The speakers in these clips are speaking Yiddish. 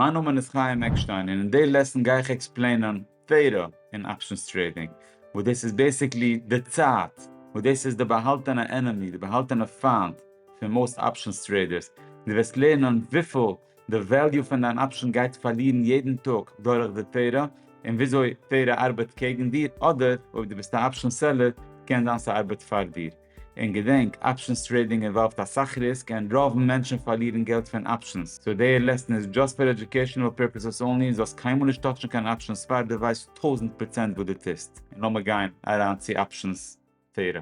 מיין נאמען איז חיים עקשטיין און אין די לעסן גיי איך עקספלעינען תורה און אפשענס טרעידינג וואס דאס איז בעסיקלי די צייט וואס דאס איז די באהאלטענע ענעמי די באהאלטענע פיינט פון מאוסט אפשענס טרעידערס דו וועסט לערנען וויפיל די וועליו פון דיין אפשען גייט פארלירן יעדן טאג דורך די תורה און וויאזוי תורה ארבעט קעגן דיר אדער אויב דו ביסט א אפשען סעלער קען זיין ס'ארבעט פאר דיר. און געדענק, אפשענס טרעידינג אינוואלווד אסאך ריסק און רוב מענטשן פארלירן געלט פון אפשענס, סאו דעיע לעסן איז דזשאסט פאר עדיוקעישאנעל פערפעסעס אנלי און זאלסט קיינמאל נישט טאטשן קיין אפשענס פאר דו ווייסט טויזנט פראצענט וואס דו טוסט, און לאמיר גיין אריין צו אפשענס תורה.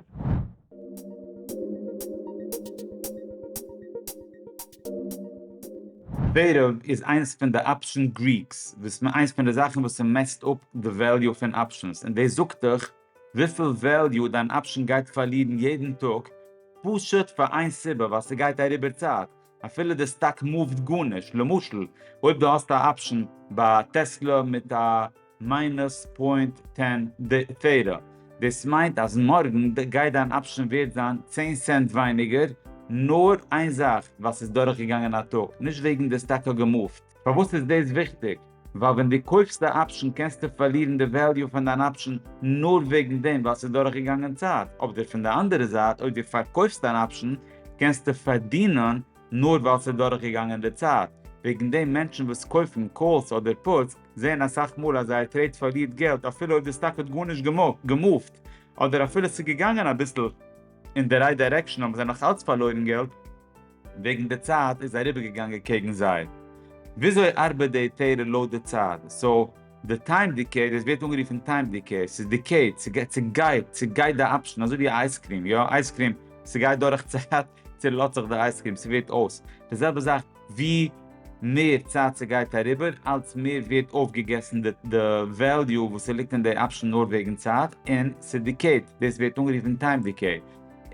בערב איז איינס פון די אפשען גריקס, וואס איינס פון די זאכן וואס ס'מעסט אפ די וועליו פון אפשענס, און דאס זאגט דיך וויפיל וועליו דיין אפשן גייט פארלירן יעדן טאג פשוט פאר איין סיבה ווייל ס'גייט אריבער צייט אפילו די סטאק מאווט גארנישט למשל אויב דו האסט א אפשן ביי טעסלא מיט א מיינוס פוינט טען תירא דאס מיינט אז מארגן גייט דיין אפשן ווערט זיין צען סענט ווייניגער נאר איין זאך ווייל ס'איז דורכגעגאנגען א טאג נישט וועגן די סטאק האט געמאווט. פארוואס איז דאס וויכטיג? ווייל ווען דו קויפסט א אפשן קענסטו פארלירן די וועליו פון דיין אפשן נאר וועגן דעם ווייל ס'איז דורכגעגאנגען צייט, אבדער פון די אנדערע זייט אויב דו פארקויפסט אן אפשן קענסטו פארדינען נאר ווייל ס'איז דורכגעגאנגען די צייט, וועגן דעם מענטשן וואס קויפן קאלס אדער פוטס זעען אסאך מאל אז זייער טרעיד פארלירט געלט אפילו אויב די סטאק האט גארנישט געמופט אדער אפילו ס'איז געגאנגען אביסל אין די רייט דיירעקשאן האבן זיי נאך אלץ פארלוירן געלט. וועגן די צייט איז אריבערגעגאנגען קעגן זיי. וויאזוי ארבעט די תורה לויט די צייט? סאו די טיים דיקעי, דאס ווערט אנגערופן טיים דיקעי, ס'איז דיקעיד, ס'גייט, ס'גייט די אפשטן, אזוי ווי א אייז קרים, יא, אייז קרים, ס'גייט דורך צייט, צעלאזט זיך די אייז קרים, ס'ווערט אויס. די זעלבע זאך, ווי מער צייט ס'גייט אריבער, אלץ מער ווערט אויפגעגעסן די די וועליו וואס ס'ליגט אין די אפשטן נאר וועגן צייט, און ס'דיקעיד, דאס ווערט אנגערופן טיים דיקעי.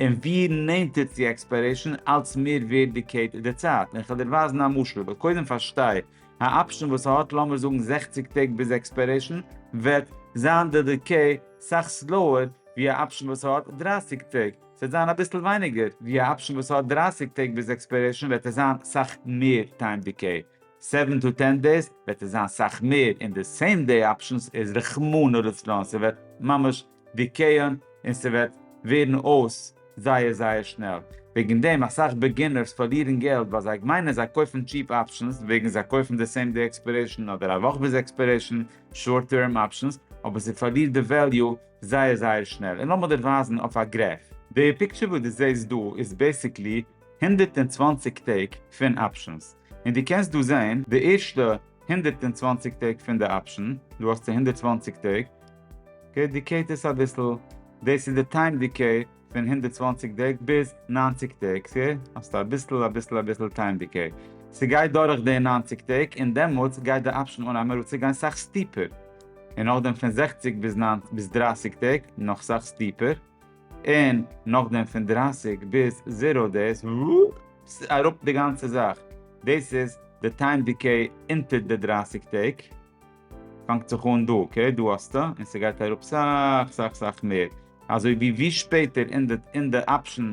און ווי נענטער צו עקספיירעישאן אלץ מער ווערט די קעט די צייט, און כ'וועל דיר ווייזן א משל, אבער קודם פארשטיי, א אפשן וואס האט לאמיר זאגן זעכציק טעג ביז עקספיירעישאן וועט זיין די דיקעי סאך סלאוער ווי א אפשן וואס האט דרײַסיק טעג, ס'וועט זיין אביסל ווייניגער ווי א אפשן וואס האט דרײַסיק טעג ביז עקספיירעישאן וועט עס זיין סאך מער טיים דיקעי, סעווען טו טען דעיס וועט עס זיין סאך מער, און די סעים דעי אפשנס איז רחמנא לצלן ס'וועט ממש די קען און ס'וועט ווערן אויס זייער זייער שנעל, וועגן דעם אסאך בעגינערס פארלירן געלט ווייל זיי מיינען זיי קויפן טשיעפ אפשענס וועגן זיי קויפן די סעים דעי עקספערעישן אדער א וואך ביז עקספערעישן שארט טערם אפשענס אבער ס'פארלירט די וועליו זייער זייער שנעל און לאמיר דיר ווייזן אויף א גרעף. די פיקטשער וואס די זעהסט דא איז בעסיקלי הונדערט און צוואַנציק טעג פון אפשענס. און דו קענסט דא זעהן די ערשטע הונדערט און צוואַנציק טעג פון די אפשען, דא האסטו הונדערט צוואַנציק טעג, אקעי דיקעיט עס אביסל, דאס איז די טיים דיקעי פון הונדערט צוואַנציק טעג ביז נײַנציק טעג, סה האסטו אביסל אביסל אביסל טיים דיקעי, סגייט דורך די נײַנציק טעג און דעמאלטס גייט די אפשען אן אמעראו צו גיין סאך סטיפער, און נאכדעם פון זעכציק ביז דרײַסיק טעג נאך סאך סטיפער. און נאכדעם פון דרײַסיק ביז זיראו דעיס וואופס אראפ די גאנצע זאך, דאס איז די טיים דיקעי אונטער די דרײַסיק טעג, פאנגט זיך אן דא אקעי דא האסטו און ס'גייט אראפ סאך סאך סאך מער אזוי ווי ווי שפעטער אין די אפשן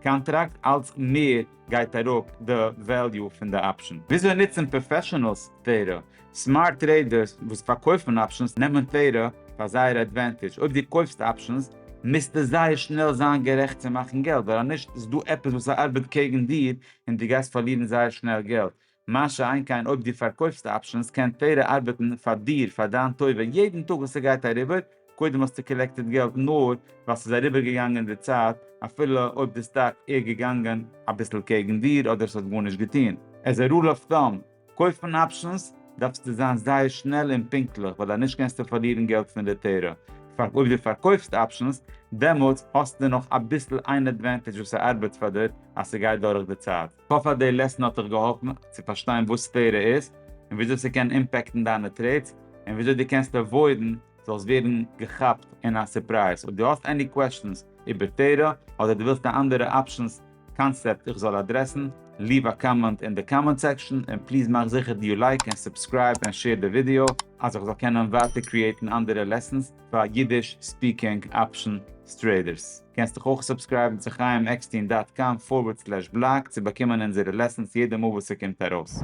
קאנטראקט אלץ מער. גייט אראפ די וועליו פון די אפשן. וויאזוי נוצן פראפעשענעלס טרעידער. סמארט טרעידערס וואס פארקויפן אפשנס נעמען טרעידער פאר זייער עדווענטידזש. אויב דו קויפסט אפשנס מוזטו זייער שנעל זיין גערעכט צו מאכן געלט ווייל אז נישט איז דא עפעס וואס ארבעט קעגן דיר און דו גייסט פארלירן זייער שנעל געלט. מה שאין כן אויב דו פארקויפסט אפשענס קען פערא ארבעטן פאר דיר פאר דיין טובה יעדן טאג וואס ס'גייט אריבער, קודם האסטו קאלעקטעד געלט נאר ווייל ס'איז אריבערגעגאנגען די צייט אפילו אויב די סטאק איז געגאנגען אביסל קעגן דיר אדער ס'האט גארנישט געטון. עז א רול אוו טאם, קויפן אפשענס דארפסטו זיין זייער שנעל און פונקטליך ווייל אנישט קענסטו פארלירן געלט פון די טערא פאר אויב דו פארקויפסט אפשענס דעמאלטס האסטו נאך אביסל איין עדווענטעדזש וואס ס'ארבעט פאר דיר אז ס'גייט דורך די צייט. כ'האף אז די לעסן האט דיך געהאלפן צו פארשטיין וואס סקווערע איז און וויאזוי ס'קען אימפעקטן דיינע טרעידס און וויאזוי דו קענסט עוואוידן זאלסט ווערן געכאפט אין א סורפרייז. אויב דו האסט עני קוועשאנס איבער תורה אדער דו ווילסט א אנדערע אפשענס קאנסעפט איך זאל אדרעסן, ליעוו א קאמענט אין די קאמענט סעקשאן און פליז מאך זיכער דו לייק און סובסקרייב און שעיר די ווידיאו אז איך זאל קענען ווייטער קריעיטן אנדערע לעסענס. פאר אידיש ספיקינג אפשן סטרעדערס. קענסט דיך אויך סובסקרייבן צו חיים עקסטין דאט קאם פארווערד סלעש בלאג צו באקומען אונזערע לעסענס יעדע מאל וואס ס'קומט ארויס.